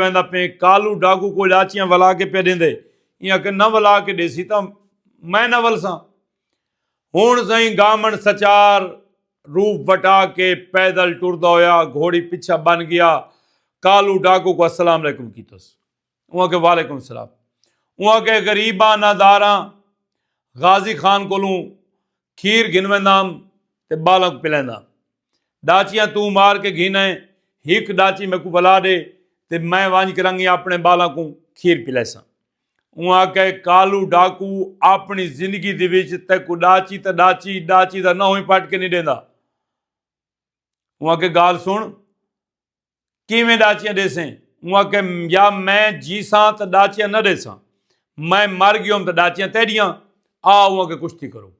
ویندا پیں کالو ڈاکو کول آچیاں ولا کے پہ ڈیندے ایاں کہ نہ ولا کے ڈیسی تاں میں نہ ولساں ہن سائیں گامن سچار روپ وٹا کے پیدل ٹردا ہویا گھوڑی پیچھا بن گیا کالو ڈاکو کو السلام علیکم کیتس اوہ کہ وعلیکم السلام اوہ کہ غریباں ناداراں غازی خان کولوں کھیر گھن ویندام تے ٻالاں کوں پلینداں۔ ݙاچیاں توں مار کے گھن آئیں، ہک ݙاچی میکوں ولا ݙے تے میں ونڄ کے رنگیں آپݨے ٻالاں کوں کھیر پلیساں۔ اوں آکھئے کالو ݙاکو آپݨی زندگی دی وچ تیکوں ݙاچی تاں ݙاچی ݙاچی دا نہوئیں پٹ کے نی ݙیندا۔ اوں آکھئے ڳالھ سݨ۔ کیویں ڈاچیاں ڈیسیں اوں آکھے یا میں جیساں تے ڈاچیاں نہ ڈیساں میں مر گیوں تے ڈاچیاں تیڈیاں آ اوں آکھے کشتی کرو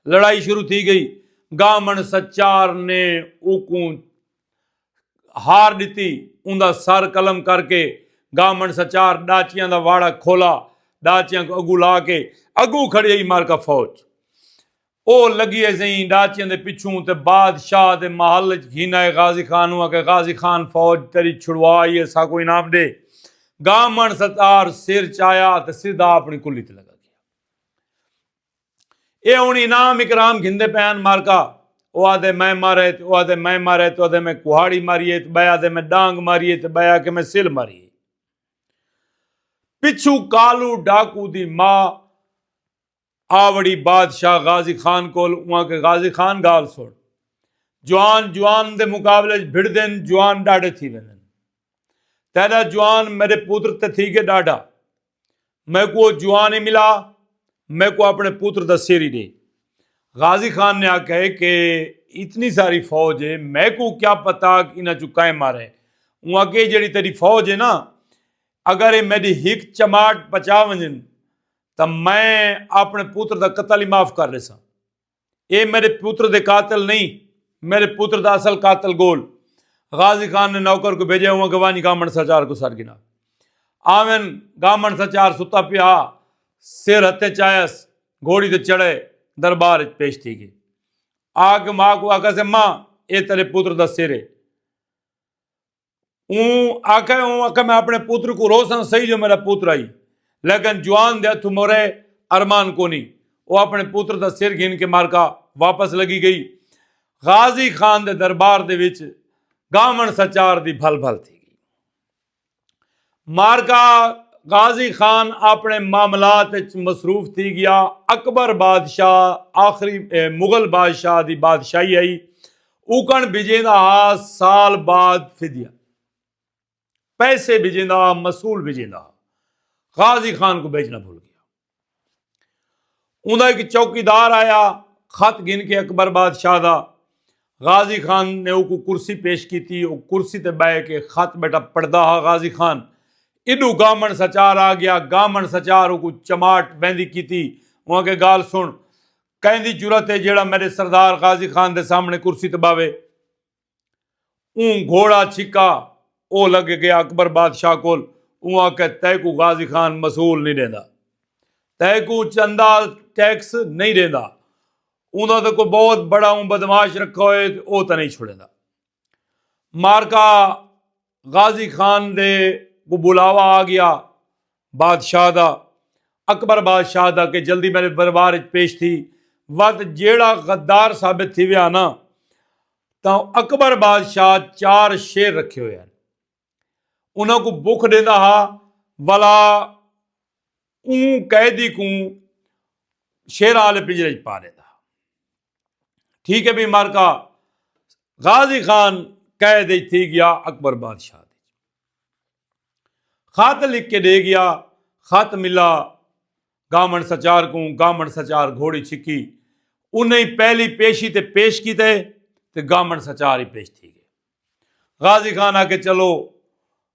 لڑائی شروع تھی گئی گامن سچار نے اوکوں ہار ڈتی اون دا سر قلم کر کے گامن سچار ڈاچیاں دا واڑا کھولا ڈاچیاں کو اگو لا کے اگو کھڑی مار کا فوج او لگیے زئیں ڈاچیاں دے پچھوں تے بادشاہ دے محل اچ گھینائے غازی خان اوں آکھے غازی خان فوج تری چھڑوا ای ہے ساکوں انعام ڈے گامن ستار سر چایا تے سدھا اپنی کلی تے لگا گیا اے ہن انعام اکرام گھندے پئے ہن مارکا او آدھے میں مارے تے او آدھے میں مارے تے او آدھے میں کوہاڑی ماری ہے تے بئے آدھے میں ڈانگ ماری ہے تے بئے آکھے میں سل ماری ہے پچھوں کالو ڈاکو دی ماں آ وڑی بادشاہ غازی خان کول اواں کہ غازی خان گال سن جوان جوان دے مقابلے اچ بھڑدن جوان ڈاڈھے تھی ویندن تیڈا جوان میڈے پتر تے تھی گئے ڈاڈھا میکوں او جوان ہی ملا میکوں اپنے پتر دا سر ہی ڈے غازی خان نے آکھیا کہ اتنی ساری فوج ہے میکوں کیا پتہ کہ انہاں چوں کئیں مارے اواں کہ جیڑی تیڈی فوج ہے نا اگر اے میڈی ہک چماٹ پچا ونجن تو میں اپنے پوتر دا قتل ہی معاف کر لیسا اے میرے پوتر دے قاتل نہیں میرے پوتر دا اصل قاتل گول غازی خان نے نوکر کو بھیجے ہوا کہ وانی گامن سا چار کو سر گنا آمن گامن سا چار ستا پیا سیر ہتے چاہیس گھوڑی دے چڑھے دربار اچ پیش تھی گئے آگ ماں کو آگا سے ماں اے تیرے پوتر دا سیرے اون آکھے اون آکھے میں اپنے پتر کو روساں صحیح جو میرا پتر آئی لیکن جوان دے ہتھوں مرے ارمان کونی او اپنے پتر دا سر گھن کے مارکا واپس لگی گئی غازی خان دے دربار دے وچ گاون سچار دی بھل بھل تھی گئی معرکہ غازی خان آپݨے معاملات اچ مصروف تھی ڳیا۔ اکبر بادشاہ آخری مغل بادشاہ دی بادشاہی ہئی۔ اوکݨ بھیڄیندا ہا سال بعد فدیہ، پیسے بھیڄیندا ہا مصول بھیڄیندا ہا۔ غازی خان کوں بھیڄݨا بھل ڳیا۔ انہاں ایک چوکی دار آیا خط گھن کے اکبر بادشاہ دا غازی خان نے او کو کرسی پیش کی تھی او کرسی تے بائے کے خط بیٹا پڑھدا ہا غازی خان ایڈو گامن سچار آ گیا گامن سچار او کو چماٹ ویندی کی تھی انہاں کے گال سن کہیں دی جرت ہے جیڑا میرے سردار غازی خان دے سامنے کرسی تے باوے اوں گھوڑا چھکا او لگ گیا اکبر بادشاہ کول اوں آکھے تیکو غازی خان مسول نہیں دیندا تیکو چندہ ٹیکس نہیں دیندا اوں دا تے کوئی بہت بڑا اوں بدماش رکھا ہوئے او تے نہیں چھڑیندا مارکا غازی خان دے کو بلاوا آ گیا بادشاہ دا اکبر بادشاہ دا کہ جلدی میرے دربار اچ پیش تھی وت جیڑا غدار ثابت تھی ویا نا تاں اکبر بادشاہ چار شیر رکھے ہوئے ہیں انہاں کو بک دیندا ہا ولا اوں قیدی کوں شیراں آلے پنجرے اچ پا ݙیندا ہا۔ ٹھیک ہے بھئی معرکہ غازی خان قید اچ تھی ڳیا اکبر بادشاہ دی۔ خط لکھ کے ݙے ڳیا۔ خط ملا گامݨ سچار کوں۔ گامݨ سچار گھوڑی چھکی۔ انہیں پہلی پیشی تے پیش کیتے تے گامݨ سچار ہی پیش تھی ڳئے۔ غازی خان آکھے چلو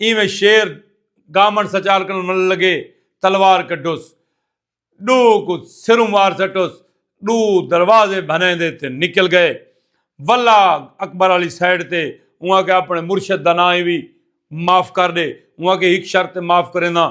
اینویں شیر گامن سچال کنوں ملن لگے تلوار کڈھوس ڈو کو سروں مار سٹوس ڈو دروازے بھنے دے تے نکل گئے ولا اکبر والی سائیڈ تے اواں کے اپنے مرشد دا نام ہی وی معاف کر دے اواں کے ہک شرط معاف کرے نا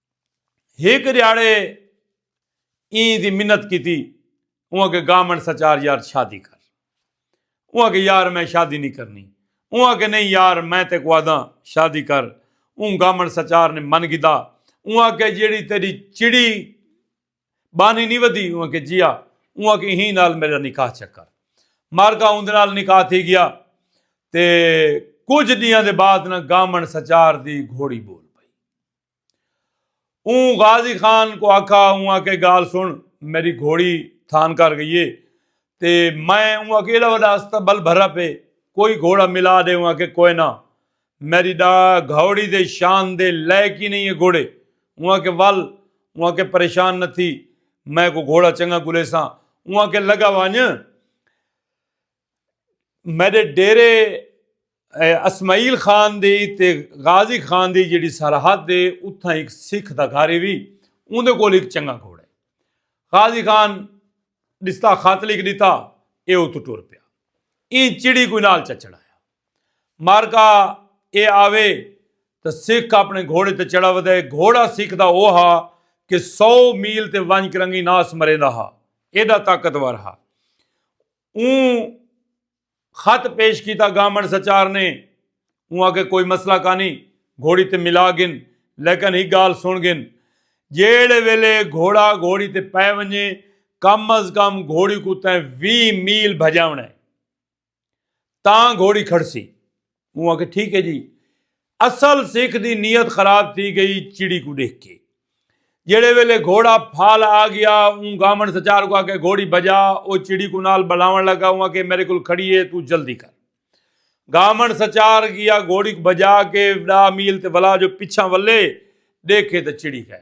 ہک ریاڑے ایں دی منت کیتی اوں اگے گامن سچار یار شادی کر اوں اگے یار میں شادی نہیں کرنی اوں اگے نہیں یار میں تے کو آداں شادی کر اوں گامن سچار نے من گدا اوں اگے جیڑی تیری چڑی بانی نہیں ودی اوں اگے جیا اوں اگے ہی نال میرا نکاح چکر مار گا اون نال نکاح تھی گیا تے کچھ دیاں دے بعد نہ گامن سچار دی گھوڑی بول اوں غازی خان کو آکھا اوں آکھے گال سن میڈی گھوڑی تھان کر گئی اے تے میں اوں آکھے ایڈا وڈا استبل بھرا پے کوئی گھوڑا ملا ڈے اوں آکھے کوئے نہ میڈی ڈا گھوڑی دے شان دے لائے کی نہیں اے گھوڑے اوں آکھے ول اوں آکھے پریشان نہ تھی میں کو گھوڑا چنگا گھلیساں اوں آکھے لگا وانج میڈے ڈیرے اسماعیل خان دی تے غازی خان دی جیڑی سرحد ہے اتھاں ایک سکھ دا گھر وی اون دے کول ایک چنگا گھوڑا ہے غازی خان ڈستا خط لکھ دیتا اے اتو ٹور پیا این چڑی کوئی نال چچڑا ہے مارکا اے آوے تو سکھ اپنے گھوڑے تے چڑھا ودے گھوڑا سکھ دا او ہا کہ سو میل تے ونج کرنگی ناس مریندا ہا ایڈا طاقتور ہا اوں خط پیش کیتا گامن سچار نے اوں آکھے کوئی مسئلہ کانی گھوڑی تے ملا گن لیکن ہی گال سن گن جیڑے ویلے گھوڑا گھوڑی تے پے ونجے کم از کم گھوڑی کو تیں وی میل بھجاونا ہے تاں گھوڑی کھڑسی اوں آکھیا ٹھیک ہے جی اصل سکھ دی نیت خراب تھی گئی چڑی کو دیکھ کے جڑے ویلے گھوڑا پھال آ گیا اون گامن سچار کو آکے گھوڑی بجا او چڑی کو نال بلاون لگا اون آکے میرے کول کھڑی ہے تو جلدی کر گامن سچار گیا گھوڑی کو بجا کے ڈا میل تے ولا جو پچھا ولے دیکھے تے چڑی کہے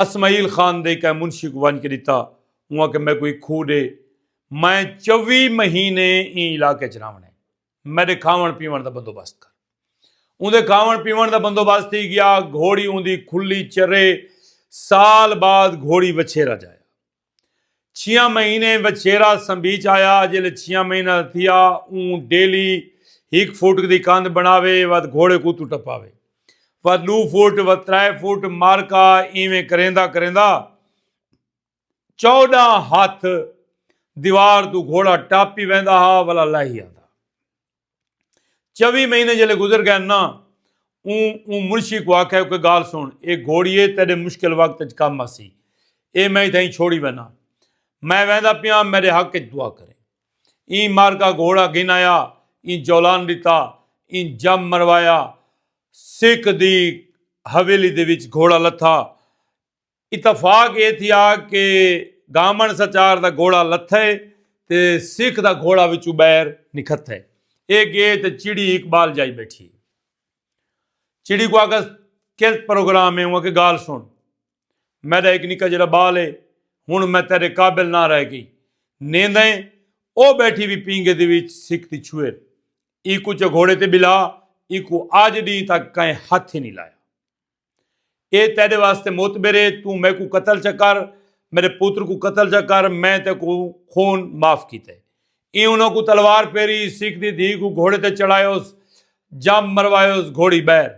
اسمعیل خان دے کہیں منشی کوں ونج کے ڈتا اوں آکھے میکوں ہک کھوہ ڈے میں چوی مہینے ایں علاقے اچ رہونڑ اے میڈے کھاونڑ پیونڑ دا بندوبست کر اوندے کھاونڑ پیونڑ دا بندوبست تھی گیا گھوڑی اوندی کھلی چرے سال بعد گھوڑی وچھیرا جایا چھیاں مہینے وچھیرا سمبھی چایا جلے چھیاں مہینہ تھیا اون ڈیلی ہک فٹ دی کند بناوے ود گھوڑے کو تو ٹپاوے ود دو فٹ ود ترائے فٹ مارکا ایویں کریندا کریندا چوڈا ہاتھ دیوار تو گھوڑا ٹاپی ویندا ہا ولا لاہی آندا چوی مہینے جلے گزر گئے نا اون اون منشی کو آکھے کہ گال سن اے گھوڑیے تیرے مشکل وقت اچ کم آسی اے میں اتھائی چھوڑی وینا میں ویندا پیا میرے حق اچ دعا کریں ایں مار کا گھوڑا گھن آیا ایں جولان ڈتا ایں جم مروایا سکھ دی حویلی دے وچ گھوڑا لتھا اتفاق اے تھیا کہ گامݨ سچار دا گھوڑا لتھئے تے سکھ دا گھوڑا وچوں ٻاہر نکھتھئے۔ اے ڳئے تے چڑی اقبال جائی ٻیٹھی۔ چڑی کوں آکھس کیلت پروگرام اے اوں آکھے ڳالھ سݨ میݙا ہک نکا جیݙا ٻال اے ہݨ میں تیݙے قابل نہ رہ ڳئی۔ نیندئیں او ٻیٹھی وی پینگھے دے وچ سکھ دی چھوہر ایکوں چا گھوڑے تے ٻلھا ایکوں آڄ ݙینہہ تک کئیں ہتھ ہی نی لایا۔ اے تیرے واسطے موتبر ہے تو میں کو قتل چکر میرے پوتر کو قتل چکر میں تے کو خون معاف کیتے اے انہوں کو تلوار پیری سکھ دی دھی کو گھوڑے تے چڑھائے اس جام مروائے اس گھوڑی بیر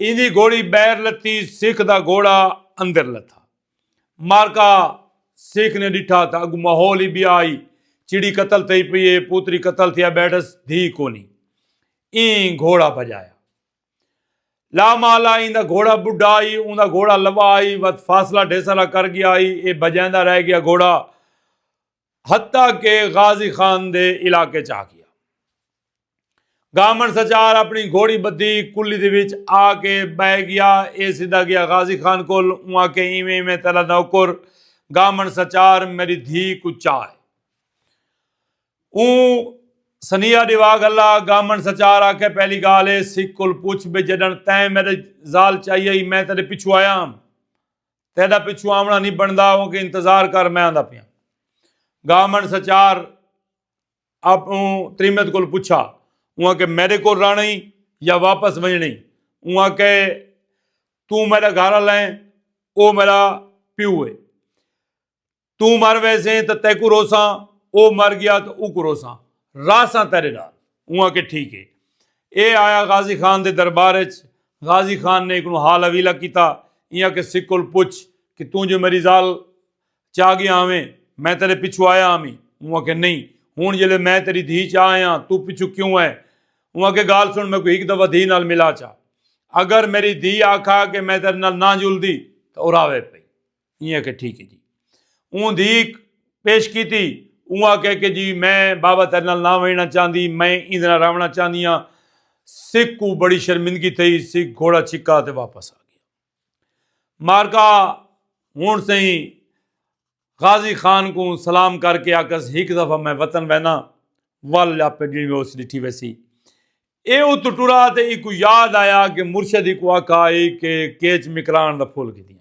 ان دی گھوڑی بیر لتی سکھ دا گھوڑا اندر لتا مارکا سکھ نے ڈٹھا تھا اگو ماحول ہی بھی آئی چڑی قتل تھی پی پوتری قتل تھیا بیٹھس دھی کونی این گھوڑا بجایا لا مالا این دا گھوڑا بڈھا آئی اون دا گھوڑا لوا آئی وقت فاصلہ ڈھیسرا کر گیا آئی اے بجیندہ رہ گیا گھوڑا حتیٰ کہ غازی خان دے علاقے چاہ گیا گامن سچار اپنی گھوڑی بدھی کلی دے وچ آ کے بہ گیا اے سیدھا گیا غازی خان کول اون آ کے ایویں ایویں تیرا نوکر گامن سچار میری دھی کو چاہ اوں سنیہا ڈیوا گھلا، گامن سچار آکھے پہلی گالھ اے سکھ کول پچھ بے جڈن تیں میڈے زال چائی ہئی میں تیڈے پچھو آیا ہم تیڈا پچھو آونڑا نی بنڑدا اوں کے انتظار کر میں آندا پیاں گامن سچار اپوں تریمت کول پچھا اوں آکھے میڈے کول رہنڑ ہئی یا واپس ونجنڑ ہئی اوں آکھے توں میڈا گھر آلا ایں او میڈا پیو اے۔ توں مر ویسیں تو تیکو روساں او مر گیا تو او کو روساں راساں تیرے نال اوں آکھے ٹھیک ہے اے آیا غازی خان دے دربار اچ غازی خان نے اکنوں حال اویلا کیتا ایاں کہ سکل پچھ کہ توں جو میری زال چاہ گیا آویں میں تیرے پچھو آیا آمی اوں آکھے نہیں ہون جلے میں تیری دھی چاہ آیا تو پچھو کیوں ہے اوں آکھے گال سن میں کوئی ایک دفعہ دھی نال ملا چاہ اگر میری دھی آکھا کہ میں تیرے نال نہ جل دی تو اراوے پئی ایں آکھیا ٹھیک ہے جی اون دھیک پیش کیتی اون آکھیا کہ جی میں بابا تیرے نال نہ وینا چاہندی میں ایں دے نال راونا چاہندی ہاں سکھ کو بڑی شرمندگی تھئی سکھ گھوڑا چھکا تے واپس آ گیا مارکا ہن سہی غازی خان کو سلام کر کے آکس ہک دفعہ میں وطن وینا ول یا پہ جی میں اس ڈٹھی ویسی اے او تو ٹرا تے ایکو یاد آیا کہ مرشدی کو آکھا ہے کہ کیچ مکران دا پھول کی دیا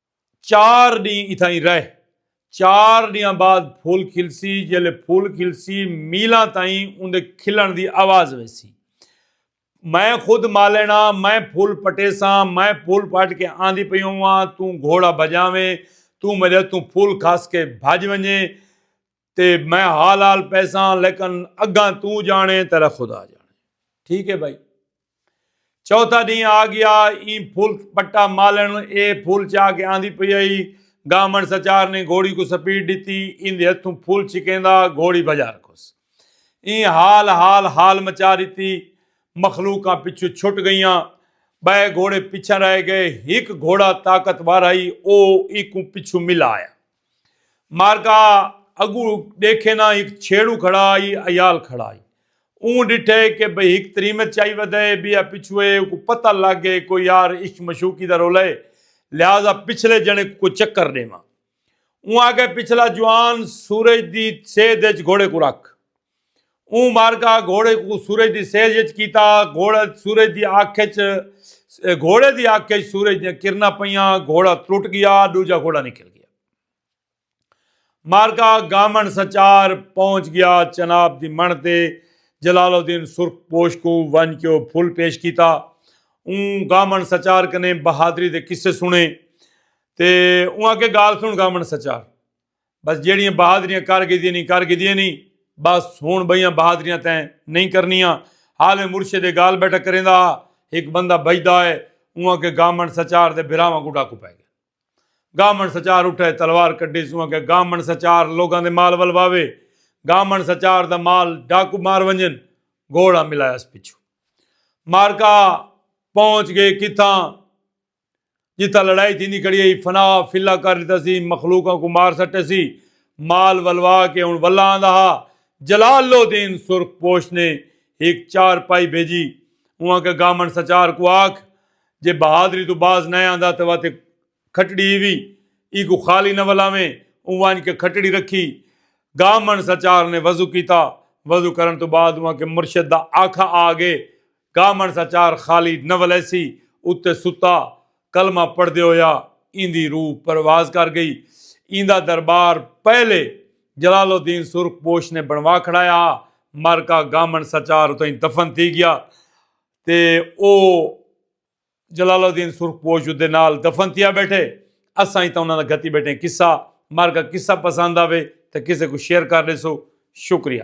چار ڈینہہ اتھائیں رہ چار ڈینہاں بعد پھول کھلسی جیلے پھول کھلسی میلاں تائیں اوندے کھلن دی آواز ویسی میں خود مالینا میں پھول پٹے ساں میں پھول پٹ کے آندی پئی ہوواں توں گھوڑا بجاویں توں ملے توں پھول کھاس کے بھج ونجیں تے میں حال حال پیسہ لیکن اگاں تو جانے تیرا خدا جانے ٹھیک ہے بھائی چوتھا دن آ گیا این پھول پٹا مالن اے پھول چا کے آندھی پی آئی گامن سچار نے گھوڑی کو سپیڈ دیتی ان دے ہتھوں پھول چھکیندا گھوڑی بجا رکھوس این حال حال حال مچا دیتی مخلوقاں پچھو چھٹ گئیاں بے گھوڑے پچھا رہ گئے ہک گھوڑا طاقتور آئی او ایکوں پچھو ملا آیا مارکا اگو ڈیکھے نا ہک چھیڑو کھڑا آئی ایال کھڑا آئی اون ڈٹھے کہ بھئی ہک تریمت چائی ودے بیا پچھوئے کو پتہ لگ گئے کو یار عشق مشوقی دا رولہ ہے لہذا پچھلے جنے کو چکر ڈیواں اون آکھے پچھلا جوان سورج دی سیدھ اچ گھوڑے کو رکھ۔ اوں معرکہ گھوڑے کوں سورج دی سیج اچ کیتا، گھوڑا سورج دی اکھ اچ گھوڑے دی اکھ اچ سورج دیاں کرناں پیاں، گھوڑا ترٹ گیا، ڈوجھا گھوڑا نکل گیا۔ معرکہ گامن سنچار پہنچ گیا، چناب دی منڑھ تے جلال الدین سرخ پوش کوں ونج کے او پھل پیش کیتا۔ اوں گامن سنچار کنے بہادری دے قصے سنڑے تے اوں آکھیا گال سنڑ گامن سنچار! بس جیڑیاں بہادریاں کر گھدیاں نی کر گھدیاں نی بس ہن بئیاں بہادریاں تیں نئیں کرنیاں حال میں مرشد اے گالھ بیٹھا کریندا ہا ہک بندہ بھجدا ہے اونہاں کے گامنڈ سچار دے بھراواں کوں ڈاکو پے گئے گامنڈ سچار اٹھے تلوار کڈھی سوں آکھیا گامنڈ سچار لوگاں دے مال ولواوے گامنڈ سچار دا مال ڈاکو مار ونجن گھوڑا ملایا اس پچھوں معرکہ پہنچ گئے کتھاں جتھاں لڑائی تھیندی کھڑی ہئی فنا فلا کر ݙتا سی مخلوقاں کوں مار سٹے سی مال ولوا کے ہݨ ولا آندا ہا جلال لودین سرخ پوش نے ہک چار پائی بھیجی اونہاں کے گامݨ سچار کوں آکھ جے بہادری توں باز نئیں آندا تے واتے کھٹڑی ہیوی ایکوں خالی نہ ولاویں اوں ونڄ کے کھٹڑی رکھی گامݨ سچار نے وضو کیتا وضو کرݨ توں بعد اونہاں کے مرشد دا آکھا آ گئے کامݨ سا چار خالی نہ ولیسی اتے ستا کلمہ پڑھدے ہویا ایندی روح پرواز کر گئی۔ ایندا دربار پہلے جلال الدین سرخ پوش نے بݨوا کھڑایا ہا۔ مر کا گامݨ سا چار اتھائیں دفن تھی گیا تے او جلال الدین سرخ پوش اودے نال دفن تھیا بیٹھے۔ اساں ہی تاں انہاں دا گھتی بیٹھے ہیں قصہ۔ مر کا قصہ پسند آوے تاں کسے کوں شیئر کر ݙیسو۔ شکریہ۔